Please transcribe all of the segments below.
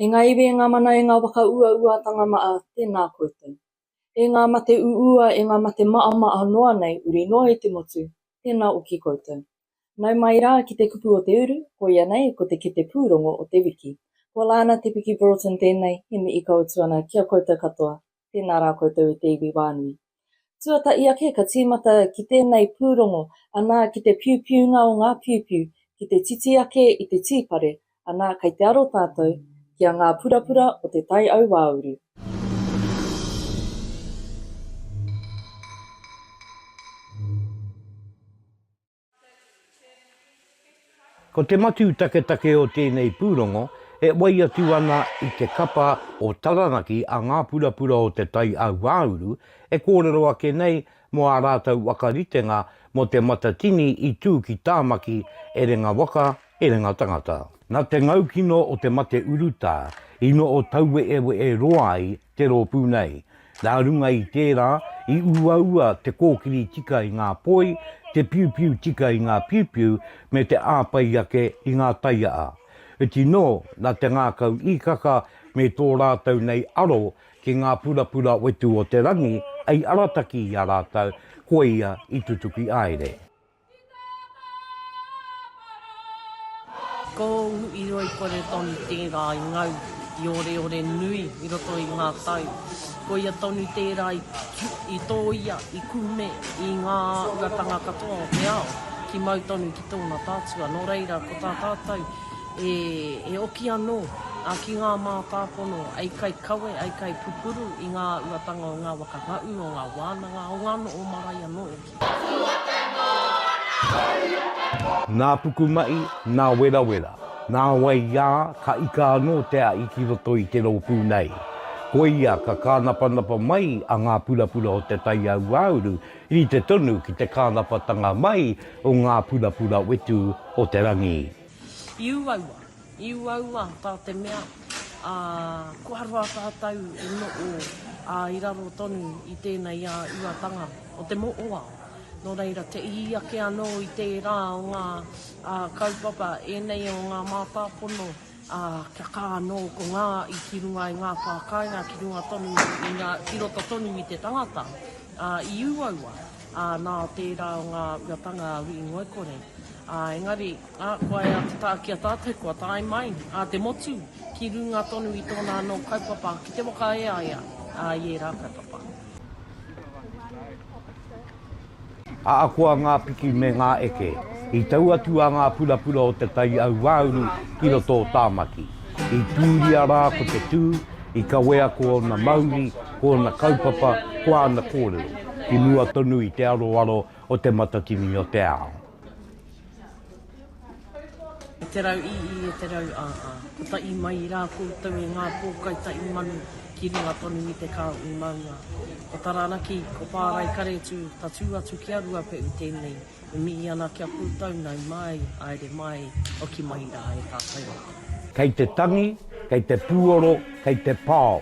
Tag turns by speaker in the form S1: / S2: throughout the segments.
S1: E ngā iwi, e ngā mana, e ngā waka uauatanga maa, tēnā koutou. E ngā mate uua, e ngā mate maamaa noa nei, uri noa i te motu, tēnā oki koutou. Nau mai rā ki te kupu o te uru, koia nei, ko te kete pūrongo o te wiki. Ko Laana Te Piki Broughton tēnei, he mihi ka utu ana ki a koutou katoa. Tēnā rā koutou e te iwi wānui. Tuata i ake ka tīmata ki tēnei pūrongo, anā ki te piupiunga o ngā piupiu, ki te titi ake i te tīpare, anā kei te aro tātou ki a ngā purapura o te tai auāuru.
S2: Ko te matū taketake o tēnei pūrongo e whai atu ana i te kapa o Taranaki a Ngā Purapura o Te Tai Ahuāuru e kōrero ake nei mō ā rātou whakaritenga mō Te Matatini i tū ki Tāmaki, Erenga Waka, Erenga Tangata. Nā te ngaukino o te mate urutā, ino o tauweeweeroa ai te rōpū nei. Nā runga i tērā, i uaua te kōkiri tika i ngā poi, te piupiu tika i ngā piupiu, me te āpai ake i ngā taiaa. Iti nō, nā te ngākau īkaka me tō rātou nei aro ki ngā purapura wetu o te rangi, hei arataki i a rātou, koia i tutuki aere.
S3: Ko ūu iroi kore tonu tērā i ngau i oreore nui i roto i ngā tau. Ko ia tonu tērā i tōia, i kume i ngā āhuatanga katoa o te ao ki mau tonu ki tōna tātua. Nō reira, ko tā tātou e oki anō ki ngā mātāpono ai kai kawe, ai kai pupuru i ngā āhuatanga o ngā waka haʻu, o ngā wānanga, o ngā noho marae anō.
S2: Nā pukumahi, nā werawera, nā waiā ka ika anō te ahi ki roto i te rōpū nei. Koia ka kānapanapa mai a ngā purapura o te taiauāuru, rite tonu ki te kānapatanga mai o ngā purapura wetū o te rangi. I uaua,
S3: i uaua tā te mea, ā, kua roa tātou e noho, ā, i raro tonu i tēnei ā-uatanga o te mohoao. Nō reira, te ihi ake anō i tērā o ngā kaupapa ēnei o ngā mātāpono, ā, kia kā anō ko ngā i ki runga i ngā pā kāinga ki runga tonu i ngā, ki roto tonu i te tangata, ā, i uaua. ā, nā tērā o ngā uatanga a Wī Ngoikore. Ā, engari, ā, ko ai a Te Tākia tātou kua tae mai, ā, te motu, ki runga tonu i tōna anō kaupapa ki te waka e a ia, ā, i ērā kaupapa.
S2: Ahakoa ngā piki me ngā eke, i tau atu a ngā purapura o Te Tai Auāuru ki roto o Tāmaki. I tūria rā ko te tū, i kawea ko ōna mauri, ko ōna kaupapa, ko āna kōrero, i mua tonu i te aroaro o Te Matatini o te Ao.
S3: E te rau ī ī, e te rau ā ā. Ko ta i mai i rā koutou e ngā pōkai ta i manu ki runga tonu i te kao i maunga. Ko Taranaki, ko Pāraikaretu, tatū atu ki a Ruapeʻu tēnei e mihi ana ki a koutou nau mai, aere mai, hoki mai rā e tātou. Kei te tangi,
S2: kei te pūoro, kei te pao,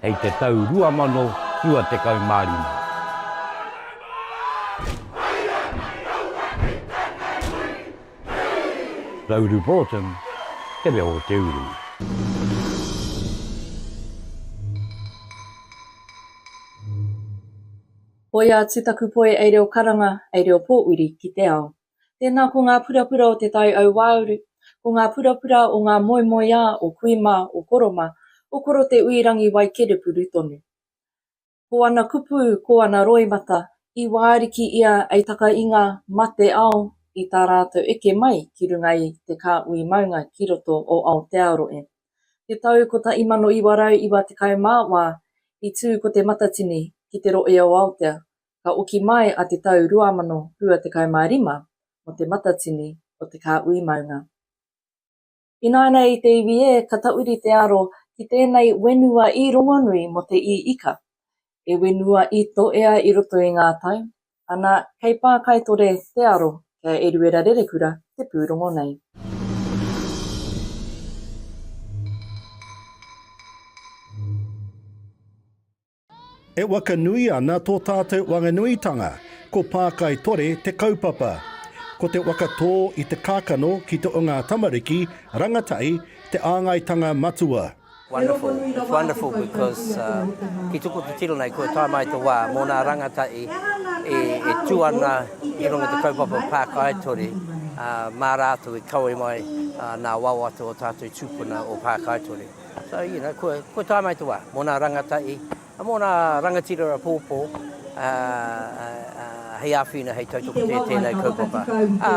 S2: hei te tau 2025. Rauru Broughton, Te Reo o te Uru.
S1: Hoia atu taku poe ei reo karanga, ei reo pōuri ki te ao. Tēnā ko ngā purapura o Te Tai Auāuru, ko ngā purapura o ngā moemoeā o Kui mā, o Koro mā, o Koro Te Uirangi Waikerepuru tonu. Ko ana kupu, ko ana roimata, i wāriki ia ei takainga ma te ao i tā rātou eke mai ki runga i te kāhui maunga ki roto o Aotearoe. I te tau 1994 i tū ko Te Matatini ki te rohe o Aotea, ka oki mai a te tau 2025 mo te matatini o te kāhui maunga. Ināianei i te iwi ē ka tauri te aro ki tēnei wenua ī rongonui mo te ī ika, e wenua ī toea i roto i ngā tau, ana kei Pākaitore te aro ki a Eruera Rerekura te pūrongo nei.
S4: E whakanui ana tō tātou wanganuitanga, ko Pākai Tore te kaupapa. Ko te whakatō i te kākano ki te o ngā tamariki, rangatahi, te āngaitanga matua. Wonderful, it's
S5: wonderful because ki tuku titiro nei kua tae mai te wā mō nā rangatahi e tū ana i runga te kaupapa o Pākai Tore mā rātou e kawe mai nā wawata o tātou tūpuna o Pākai Tore. So, you know, kua, kua tae mai te wā, mō nā rangatahi, mō nā rangatira rapōpō, ā, ā, ā, hei āwhina, hei tautoko tē tēnei kaupapa. Ā,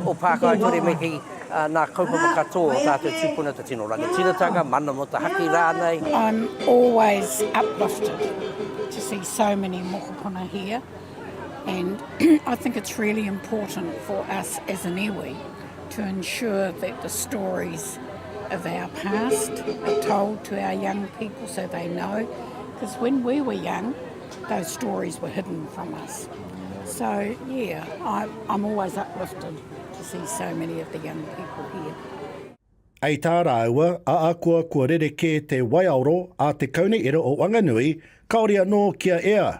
S5: o Pākāture me kī, ā, nā kaupapa katoa o tātou tūpuna, te tino rangatiratanga, mana mō te haki rānei. I'm always
S6: uplifted to see so many mokopuna here and I think it's really important for us as an iwi, to ensure that the stories of our past are told to our young people so they know, because when we were young, those stories were hidden from us. So, yeah, I, I'm always uplifted to see so many of the young people here. Hei
S4: tā rāua, ākua kua rerekē te waiaoro a te Kaunihera o Wanganui, kāore anō kia ea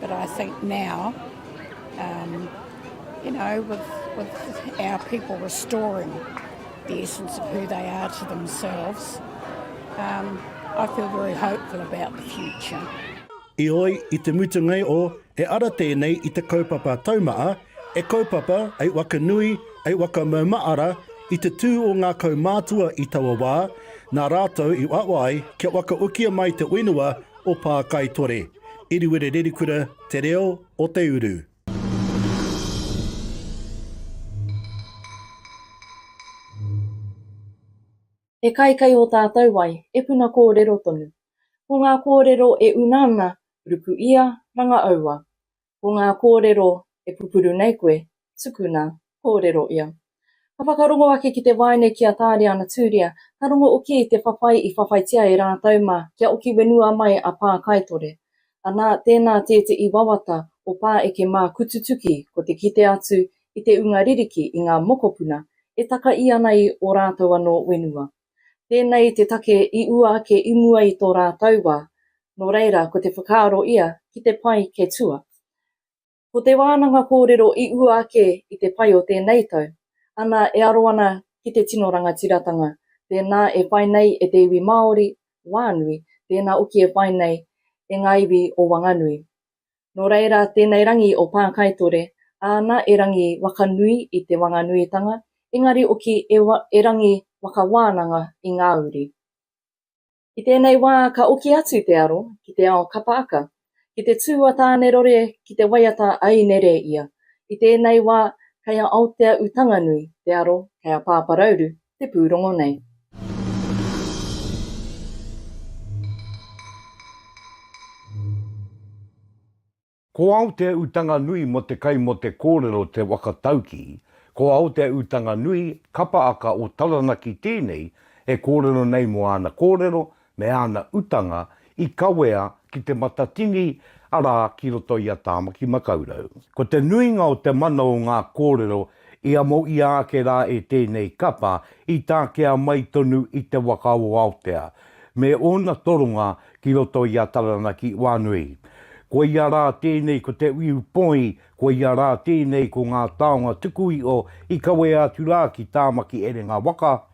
S6: But I think now, um, you know, with, with our people restoring the essence of who they are to themselves, um, I feel very hopeful about the future. I oi,
S4: i te mutunga e o, he ara tēnei i te kaupapa taumaa, e kaupapa, ei wakanui, ei wakamaumaara, i te tū o ngā kaumātua i taua wā, nā rātou i uaua ai kia wakaokia mai te whenua o Pākaitore, Iriwere Rerikura Te Reo o te Uru.
S1: He kai kei ō tātou wai, e puna kōrero tonu. Ko ngā kōrero e una ana, ruku ia, ranga aua. Ko ngā kōrero e pupuru nei koe, tukuna, kōrero ia. Ka whakarongo ake ki te waeine ki a Tāriana Tūria, ka rongo oki i te whawhai i whawhaitia e rātou mā kia oki wenua mai a Pā Kaitore. Anā, tēnā tēteʻi wawata o Pā Eke mā Kututuki ko te kite atu i te unga ririki i ngā mokopuna e takaʻi ana i o rātou anō wenua. Tēnei te take i ua ake i mua i tō rātou wā, nō reira ko te whakaaro ia ki te pai kei tua. Ko te wānanga kōrero i ua ake i te pai o tēnei tau, ana e aro ana ki te tino rangatiratanga, tēnā e whai nei e te iwi Māori, Wānui, tēnā oki e whai nei e ngā iwi o Wanganui. Nō reira, tēnei rangi o Pākaitore, āna erangi waka nui i Te Wanganuitanga, engari oki e erangi waka wānanga i ngā uri. I tēnei wā ka oki atu te aro ki te ao kapaaka, ki te tū a Tānerore ki te waiata a Inereia. I tēnei wā kei a Aotea-u-Tanganui te aro, kei a Pāparauru te pūrongo nei.
S2: Ko au te utanga nui mo te kai mo te korero te waka tauki, ko au te utanga nui, kapa aka o Taranaki tenei e korero nei mo ana korero, me āna utanga i kawea ki Te Matatini arā ki roto i a Tāmaki Makaurau. Ko te nuinga o te mana o ngā kōrero i amo ia ake rā e tēnei kapa i takea mai tonu i te waka o Aotea me ōna toronga ki roto i a Taranaki i Wānui. Koia rā tēnei ko Te Uiu Poi, koia rā tēnei ko Ngā Taonga Tukuiho i kawea atu rā ki Tāmaki Erenga Waka,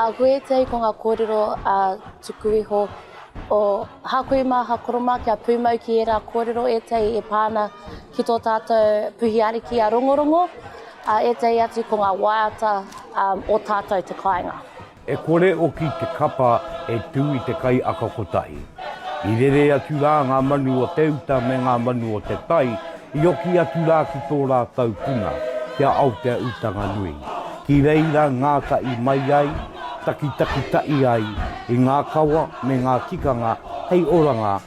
S7: A koe tei ko nga korero a tuku iho o Hakui ma Hakoroma kia pumau ki era korero etei e pa ana ki to tatou puhi ariki a Rongorongo, a etei atu ko nga waiata o tatou te kainga. E kore
S2: oki te kapa e tu i te kai aka kotahi. I rere atu ra nga manu o te uta me nga manu o te tai, i oki atu ra ki to ratou puna, ki a Aotea Utanganui. Ki reira ngatahi mai ai, takitakitai ai i nga kawa me nga tikanga hei oranga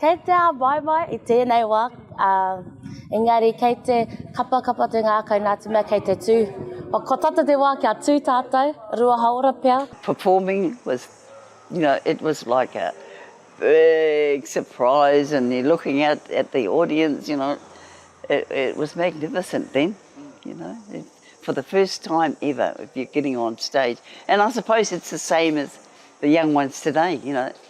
S8: Kei te āvaevae
S7: i tēnei wā, ā, engari kei te kapakapa te ngākau nā te mea kei te tū. Kua tata te wā kia tū tātou, rua hāora pea. Performing was,
S9: you know, it was like a big surprise and you're looking out at the audience, you know, it it was magnificent then, you know, for the first time ever, if you're getting on stage, and I suppose it's the same as the young ones today, you know,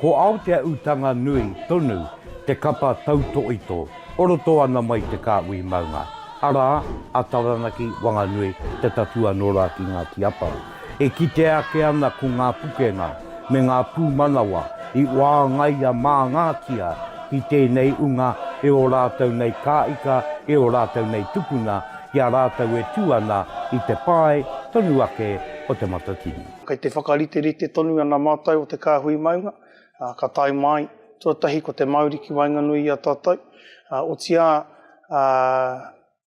S2: Ko Aotea Utanga Nui tonu te kapa tautoito o roto ana mai te kāhui maunga, arā, a Taranaki Wanganui Te Tatua nō rā ki Ngāti Apa. E kitea ake ana ko ngā pukenga me ngā pūmanawa i wāngaia māngātia ki tēnei unga e ō rātou nei kāika, e ō rātou nei tupuna, ki a rātou e tū ana i te pae tonu ake o Te Matatini. Kei te whakariterite
S10: tonu ana mātou o te kāhui maunga, ā, ka tae māi, tuatahi ko te mauri ki waenganui i a tātou, ā, otīā, ā,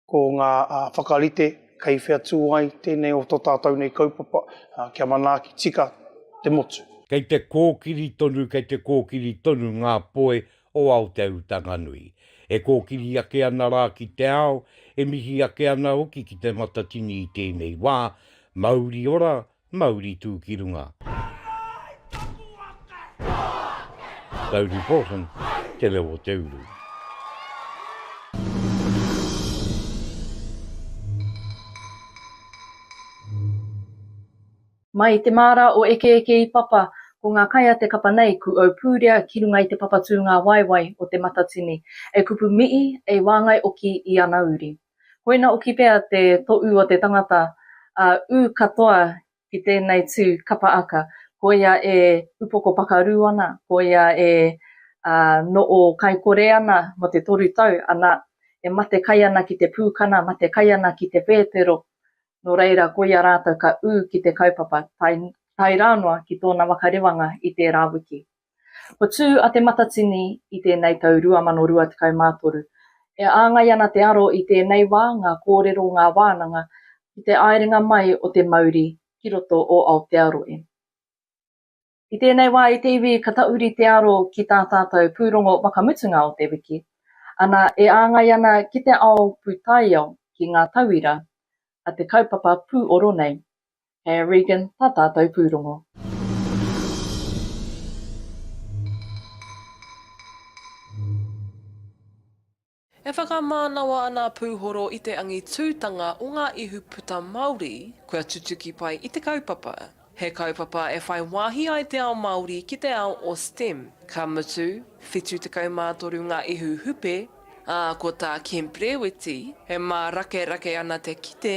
S10: ko ngā, ā, whakarite kei whea tū ai tēnei o tō tātou nei kaupapa, ā, kia manaaki tika te motu. Kei te kōkiri
S2: tonu, kei te kōkiri tonu ngā poe o Aotearotanganui, e kōkiri ake ana rā ki te ao, e mihi ake ana hoki ki Te Matatini i tēnei wā, mauri ora, mauri tū ki runga. David Paulsen, Te Reo o te Uru.
S1: Mai i te māra o Ekeeke i papa, ko ngā kai a te kapa nei ku au pūrea ki runga i te papa tūngāwaewae o Te Matatini, e kupu mihi, e wāngai oki i ana uri. Koina oki pea te toʻu o te tangata, a ū katoa ki tēnei tū kapa aka, ko ia e upoko pakarū ana, ko ia e noʻo kaikore ana mō te toru tau, ana, e mate kai ana ki te pūkana, mate kai ana ki te pēpero, nō reira koia rātou ka ū ki te kaupapa, tae, tae rā noa ki tōna waka rewanga i tērā wiki. Ko tū a Te Matatini i tēnei tau 2023, e āngai ana te aro i tēnei wā ngā kōrero ngā wānanga ki te āerenga mai o te mauri ki roto o Aotearoe. I tēnei wā i te iwi ka tauri te aro ki tā tātou pūrongo whakamutunga o te wiki, ana e āngai ana ki te ao pūtaiao ki ngā tauira a te kaupapa pūoro nei. Kei a Regan tā tātou pūrongo.
S11: E whakamānawa ana a Pūhoro i te angitūtanga o ngā ihuputa Māori kua tutuki pai i te kaupapa. He kaupapa e whai wāhi ai te ao Māori ki te ao o stem, ka mutu, 73 ngā ihu hupe, ā, ko tā Kemp Rēweti, e mārakerake ana te kite,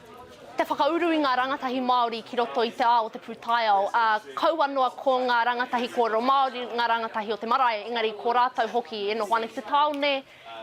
S7: Te whakauru i ngā rangatahi Māori ki roto i te ao o te pūtaiao, ā, kaua noa ko ngā rangatahi kōrero Māori ngā rangatahi o te marae, engari ko rātou hoki e noho ana ki te tāone,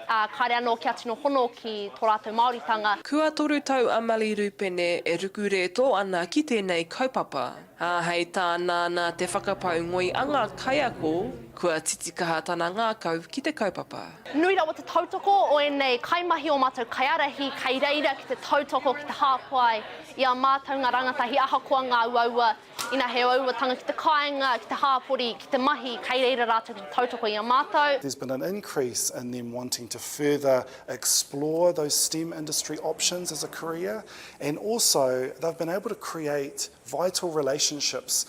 S7: ā, kāre anō kia tino hono ki tō rātou Māoritanga. Kua toru tau a
S11: Mali Rupene e ruku rētō ana ki tēnei kaupapa. Ā, hei tā Nānā te whakapau ngoi a ngā kaiako, kua titikaha tana ngākau ki te kaupapa. Nui rawa te tautoko
S7: o ēnei kaimahi, ō mātou kaiārahi, kei reira ki te tautoko, ki te hāpai i ā mātou ngā rangatahi ahakoa ngā uaua, ina he uauatanga ki te kāinga, ki te hāpori, ki te mahi, kei reira rātou ki te tautoko i a mātou. There's been an increase
S12: in them wanting to further explore those stem industry options as a career and also they've been able to create vital relationships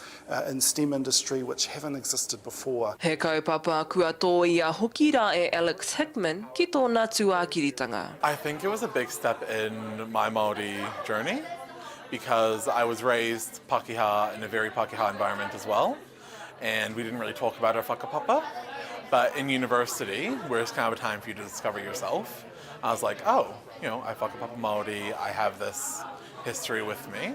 S12: in stem industry which haven't existed before. He kaupapa
S11: kua tōia hoki rā e Alex Hickman ki tōna tuākiritanga. I think it was a
S13: big step in my Māori journey because I was raised Pākehā in a very Pākehā environment as well and we didn't really talk about our whakapapa but in university where it's kind of a time for you to discover yourself I was like oh you know I whakapapa Māori, I have this history with me.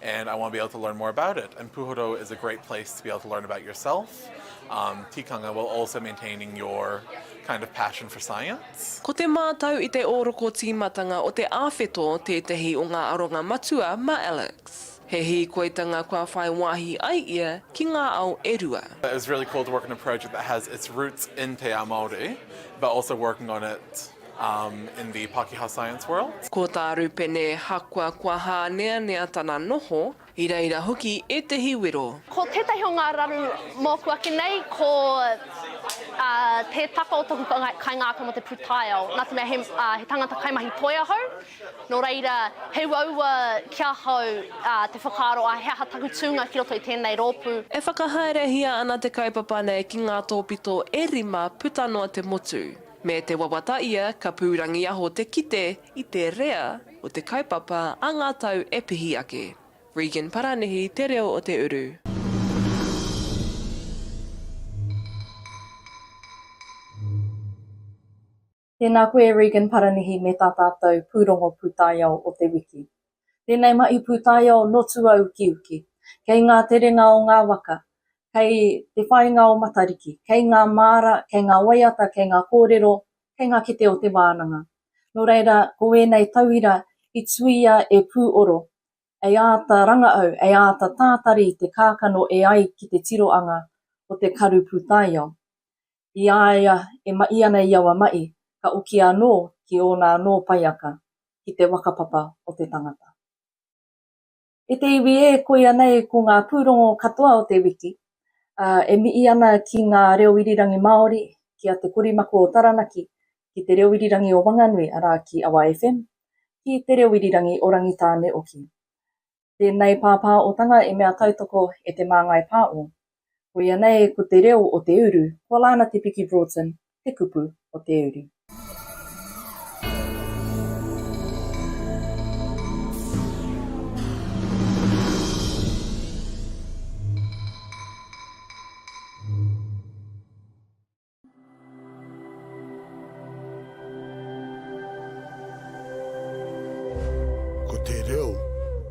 S13: and I want to be able to learn more about it. And Puhoro is a great place to be able to learn about yourself, um, tikanga, while also maintaining your kind of passion for science. Ko te mātau i
S11: te ōroko tīmatanga o te āwheto tētehi o ngā aronga matua mā Alex. He hīkoitanga kua whai wāhi ai ia ki ngā ao e rua. It was really cool to work
S13: on a project that has its roots in te ao Māori, but also working on it in the Pakeha science world. Ko tā Rupene
S11: hākua kua hāneanea tana noho, i reira hoki ētehi wero. Ko tētahi o ngā
S7: raru mōku ake nei ko Te Taka o Toku Kaingākau mō te Pūtaiao, nā te mea he tangata kaimahi toi ahau, nō reira he uaua ki ahau te whakaaro a he aha taku tūnga ki roto i tēnei rōpū. E whakahaerehia
S11: ana te kaupapa nei ki ngā tōpito e rima puta noa te motu. Me te wawata ia ka pūrangiaho te kite i te rea o te kaupapa a ngā tau e pihi ake. Regan Paranihi te reo o te uru.
S1: Tēnā koe Regan Paranihi me tā tātou pūrongo pūtaiao o te wiki. Tēnei mahi pūtaiao nō Tuaukiuki, kei ngā terenga o ngā waka, kei te whāinga o Matariki, kei ngā māra, kei ngā waiata, kei ngā kōrero, kei ngā kete o te wānanga. Nō reira, ko ēnei tauira i tuia e Pūoro, ei āta rangaau, ei āta tātari i te kākano e ai ki te tiroanga o te karu pūtaiao. i a ia e maʻi ana i awa maʻi, ka oki anō ki ōna anō paiaka, ki te wakapapa o te tangata. E te iwi ē, koia nei ko ngā pūrongo katoa o te wiki, ā, e miʻi ana ki ngā reo irirangi Māori, ki a Te Korimako o Taranaki, ki Te Reo Irirangi o Wanganui, arā, ki Awa FM, ki Te Reo Irirangi o Rangitāne hoki. Tēnei pāpā otanga e mea tautoko e Te Māngai Pāo. Koia nei ko te reo o te uru, ko Lana Te Piki Broughton te kupu o te uri. Ko te reo.